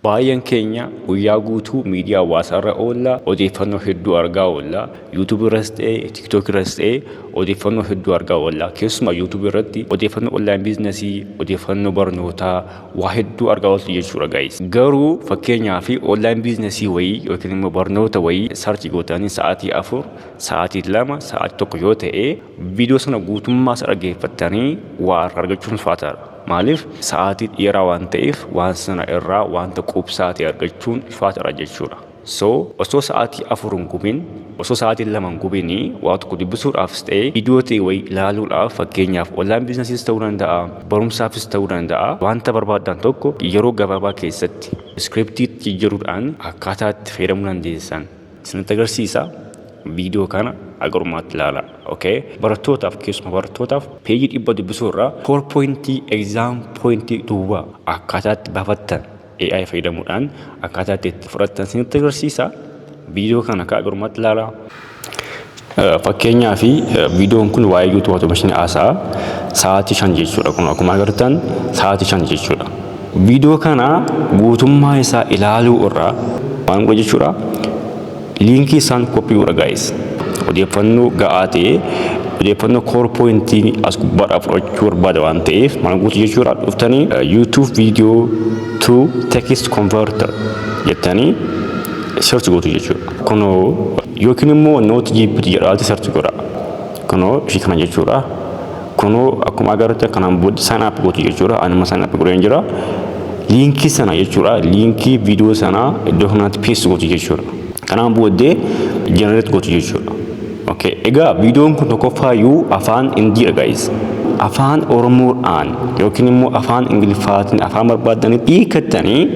Baay'een keenya guyyaa guutuu miidiyaa hawaasaa irra oolla, odeeffannoo hedduu argaa oolla. YouTube irras ta'e, TikTok irras ta'e odeeffannoo hedduu argaa oolla. Keessumaa YouTube irratti odeeffannoo online biiznasii, odeeffannoo barnootaa waa hedduu argaa ooltu jechuudha guys. Garuu fakkeenyaaf online biiznasii wayii yookiin immoo barnoota wayii sarchi gootanii sa'aatii afur, sa'aatii lama, sa'aatii tokko yoo ta'e viidiyoo sana guutummaa isaa dhaggeeffattanii waa irraa argachuun ulfaataadha. Maaliif? Sa'aatii dheeraa waan ta'eef waan sana irraa wanta quubsaa ta'e argachuun ulfaataadha jechuudha. So, osoo sa'aatii afur hin gubin, osoo sa'aatii lama hin gubin waa tokko dubbisuudhaafis ta'e viidiyoo ta'e wayii ilaaluudhaaf fakkeenyaaf online business'is ta'uu danda'a, barumsaafis ta'uu danda'a wanta barbaaddan tokko yeroo gabaabaa keessatti script itti jijjiiruudhaan akkaataa itti fayyadamuu dandeessan. isinitti agarsiisa. Viidiyoo kana haga dhumaatti ilaala. Okay. Barattootaaf keessuma barattootaaf peejii dhibba dubbisuu irraa foor poointii egzaam poointii duwwaa akkaataa itti baafattan AI fayyadamuudhaan akkaataa itti itti fudhattan isinitti agarsiisa. Viidiyoo kana haga dhumaatti ilaala. Fakkeenyaaf viidiyoon kun waa'ee YouTube automation haasa'a sa'aatii shan jechuudha kun akkuma agartan sa'aatii shan jechuudha. Viidiyoo kana guutummaa isaa ilaaluu irraa maal godha jechuudha liinkii isaan koppii godha gaa'is odeeffannoo ga'aa ta'e odeeffannoo koor poointii as gubbaadhaa fudhachuu barbaada waan ta'eef maal gootu jechuudha dhuftanii YouTube viidiyoo to text converter jettanii search gootu jechuudha kunoo Yookiin immoo not gpt jedhaati search godha. Kunoo ishii kana jechuudha. Kunoo akkuma agarrutti kanaan booda sign up gootu jechuudha. Anuma sign up godheen jira. Liinkii sana jechuudha. Liinkii viidiyoo sana iddoo kanatti paste gootu jechuudha. Kanaan booddee generate gootu jechuudha. Okay. Egaa viidiyoon kun tokkoffaayyuu afaan Indiidha guys. Afaan Oromoodhaan yookiin immoo afaan Ingiliffaatiin afaan barbaadanitti hiikattanii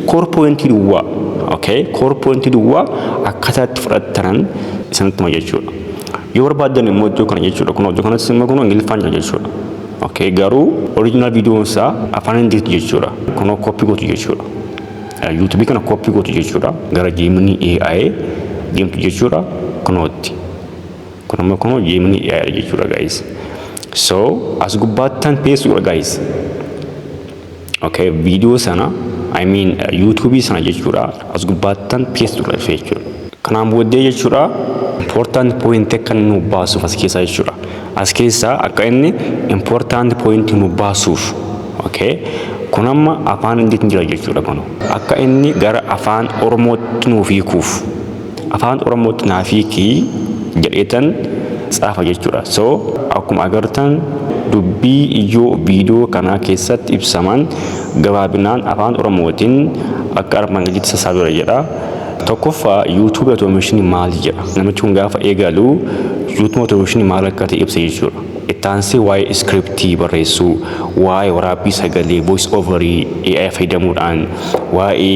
core pointii duwwaa okay core pointii duwwaa akkaataa itti fudhattanan isinitti hima jechuudha. Yoo barbaaddan immoo iddoo kana jechuudha. Kun iddoo kanatti immoo kun Ingiliffaan jira jechuudha. Okay, garuu original viidiyoon isaa afaan Hindiitti jechuudha. Kun koppii gootu jechuudha. YouTube kana koppii gootu jechuudha. Gara Gemini AI deemtu jechuudha. Kunootti. Kun immoo kun Gemini AI jechuudha guys. So as gubbaattan peessuudha guys. Okay, viidiyoo sana I mean yuutuubii sana jechuudha as gubbaattan paste godha dhufee jechuudha. Kanaan booddee jechuudha important point akka inni nu baasuuf as keessaa jechuudha. As keessaa akka inni important point nu baasuuf okay. Kun amma afaan Ingiliitiin jira jechuudha kun akka inni gara afaan Oromootti nuuf hiikuuf. afaan oromootti naaf hiiki jedheetan tsaafa jechuudha so akkuma agartan dubbii ijoo viidiyoo kanaa keessatti ibsaman gabaabinaan afaan oromootiin akka armaan gaditti sassaabera jedha tokkoffaa yuutuubii otoomishini maal jedha namichi kun gaafa eegalu yuutuubii otoomishini maal akka ta'e ibsa jechuudha ittaansee waa'ee iskiriptii barreessuu waa'ee waraabbii sagalee voice overii AI fayyadamuudhaan waa'ee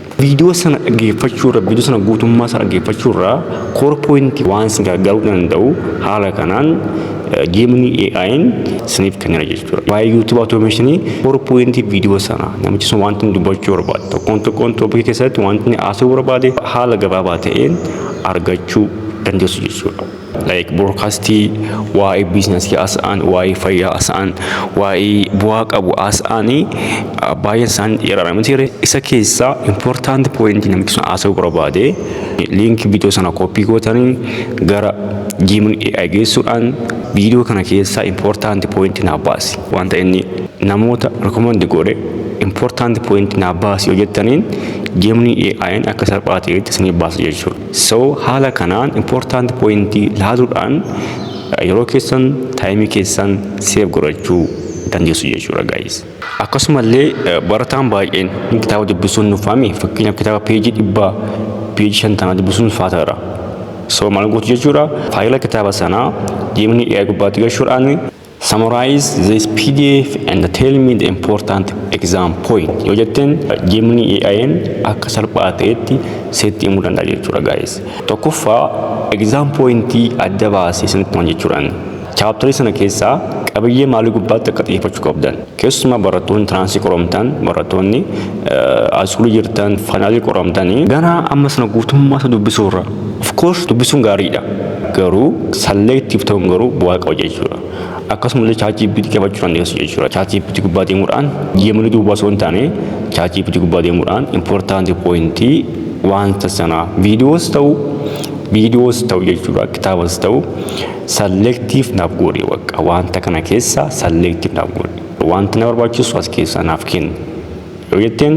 Viidiyoo sana dhaggeeffachuu irra viidiyoo sana guutummaa isaa dhaggeeffachuu irraa koor pooyintii waan isin gargaaruu danda'u haala kanaan geemni AI'n isiniif kennera jechuudha. Waa'ee YouTube automation koor pooyintii viidiyoo sana namichi sun wanti inni dubbachuu barbaade tokkoon tokkoon toopikii keessatti wanti inni haasa'uu barbaade haala gabaabaa ta'een argachuu dandeessu jechuudha. like broadcastii waa'ee business haasa'an waa'ee fayyaa haasa'an waa'ee bu'aa qabu haasa'anii baay'een isaanii dheeraadha miti ree isa keessaa important point namichi sun haasa'uu barbaade link video sana copy gootanii gara jiimin AI geessuudhaan video kana keessaa important point naa baasi wanta inni namoota recommend godhe important point naa baasi yoo jettaniin jiimni AI'n akka salphaa ta'etti isinii baasa jechuudha. So haala kanaan important point laaluudhaan yeroo keessan taayimii keessan seef godhachuu dandeessu jechuudha guys. Akkasumallee barataan baay'een kitaaba dubbisuun nuffame fakkeenyaaf kitaaba peejii dhibba peejii shantama dubbisuun ulfaataadha. So maal gootu jechuudha faayila kitaaba sanaa deemnee AI gubbaatti galchuudhaan Summarize this pdf and tell me the important exam point. Yoo jetteen Gemini AI'n akka salphaa ta'etti seetti himuu danda'a jechuudha guys. Tokkoffaa exam pointii adda baasee isinitti himan jechuudhaan. Chaaptarii sana keessaa qabiyyee maalii gubbaatti akka xiyyeeffachuu qabdan. Keessumaa barattoonni tiraansii qoromtan, barattoonni ayskuulii jirtan, faayinaalii qoramtanii. Gara amma sana guutummaa isaa dubbisuurra. Of course dubbisuun gaariidha. Garuu selective ta'uun garuu bu'aa qaba jechuudha. Akkasumallee ChatGPT qabachuu dandeessu jechuudha. ChatGPT gubbaa deemuudhaan yeemanii duwwaa osoo hin taane ChatGPT gubbaa deemuudhaan important point wanta sanaa videos ta'u videos ta'u jechuudha kitaabas ta'u Selective naaf goodhi waqqa wanta kana keessa selective naaf goodhi wanti na barbaachisu as keessaa naaf kenni yoo jetteen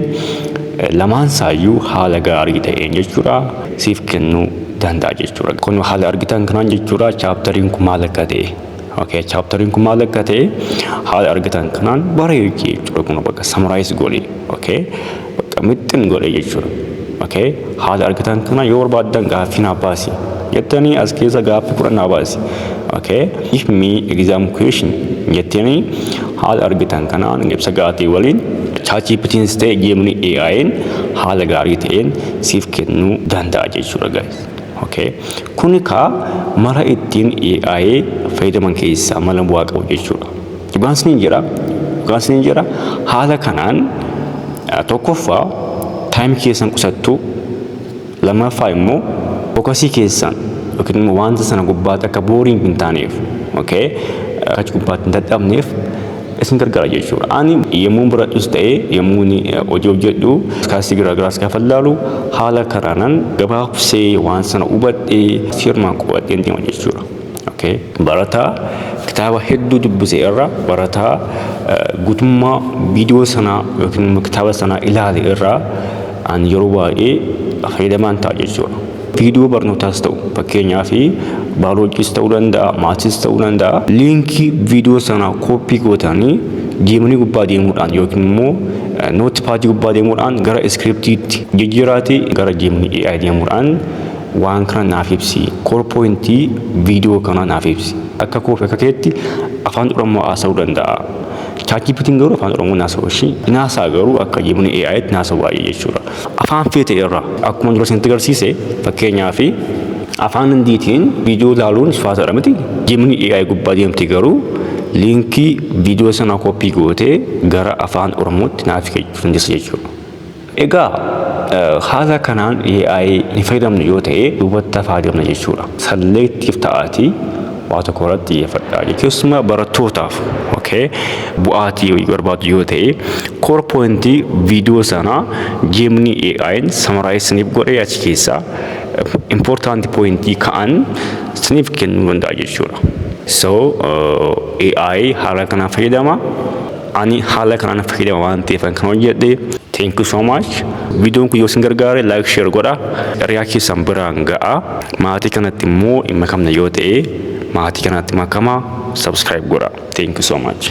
lamaan saayyuu haala gaarii ta'een jechuudha siif kennuu danda'a jechuudha kun haala argitan kanaan jechuudha chaaptariin kun maal akka ta'e okay chaaptariin kun maal akka ta'e haala argitan kanaan bareechi jechuudha kun bakka samaraayiis goodhi okay bakka mixxin godhe jechuudha. Okay. Haala argitan kana yoo barbaaddan gaaffii naa baasi jettanii as keessa gaaffii kudhan naa baasi. Okay. If me exam question jettanii haala argitan kanaan ibsa gaatii waliin chaachippitiin ta'e geemni AI'n haala gaarii ta'een siif kennuu danda'a jechuudha guys. Okay. Kuni kaa mala ittiin AI fayyadaman keessaa mala bu'aa qabu jechuudha. Dhukaasni hin jira. Dhukaasni hin jira. Haala kanaan tokkoffaa taayimii keessan qusattuu lammaffaa immoo fokasii keessan yookiin immoo wanta sana gubbaatti akka booriin hin taaneef okay achi gubbaatti hin dadhabneef isin gargaara jechuudha. Ani yommuu baradhus ta'ee yommuu hojii hojjedhu kaasii garaagaraas gaafa ilaalu haala kanaanan gabaabsee waan sana hubadhee firmaan qo'adheen deema jechuudha. Okay. Barataa kitaaba hedduu dubbise irra barataa guutummaa viidiyoo sanaa yookiin immoo kitaaba sanaa ilaale irraa an yeroo baay'ee fayyadamaan ta'a jechuudha. Viidiyoo barnootaas ta'u fakkeenyaaf baayoloojiis ta'uu danda'a, maatiis ta'uu danda'a. Liinkii viidiyoo sanaa kooppii gootanii deemanii gubbaa deemuudhaan yookiin immoo nootpaadii gubbaa deemuudhaan gara iskiriptiitti jijjiiraati gara deemanii AI deemuudhaan Waan kana naaf ibsi. Core point video kanaa naaf ibsi. Akka koo fi akka keetti afaan Oromoo haasa'uu danda'a. ChatGPT'n garuu afaan Oromoo hin haasa'u ishii. Hin haasa'a garuu akka jibni AI'tti hin haasa'u baay'ee jechuudha. Afaan feete irra akkuma dura isinitti agarsiise fakkeenyaaf afaan Hindiitiin video ilaaluun ulfaataadha miti. Jibni AI gubbaa deemti garuu liinkii video sanaa copy gootee gara afaan Oromootti naaf hiikachuu dandeessa jechuudha. Egaa haala kanaan AI hin fayyadamne yoo ta'e duubatti hafaa deemna jechuudha. Salleettiif ta'aatii waa tokko irratti xiyyeeffadhaa. Keessumaa barattootaaf okay, bu'aatii barbaadu yoo ta'e core point viidiyoo sana jeemni AI'n samaraayis isiniif godhee achi keessaa important point ka'an isiniif kennuu danda'a jechuudha. So AI haala kanaan fayyadama. Ani haala kanaan fayyadama waan ta'eefan kan hojjedhe. Thank you so much. Viidiyoon kun yoo isin gargaare like share godha. Hiriyaa keessan biraan ga'a. Maatii kanatti immoo hin makamne yoo ta'e maatii kanatti makama subscribe godha. Thank you so much.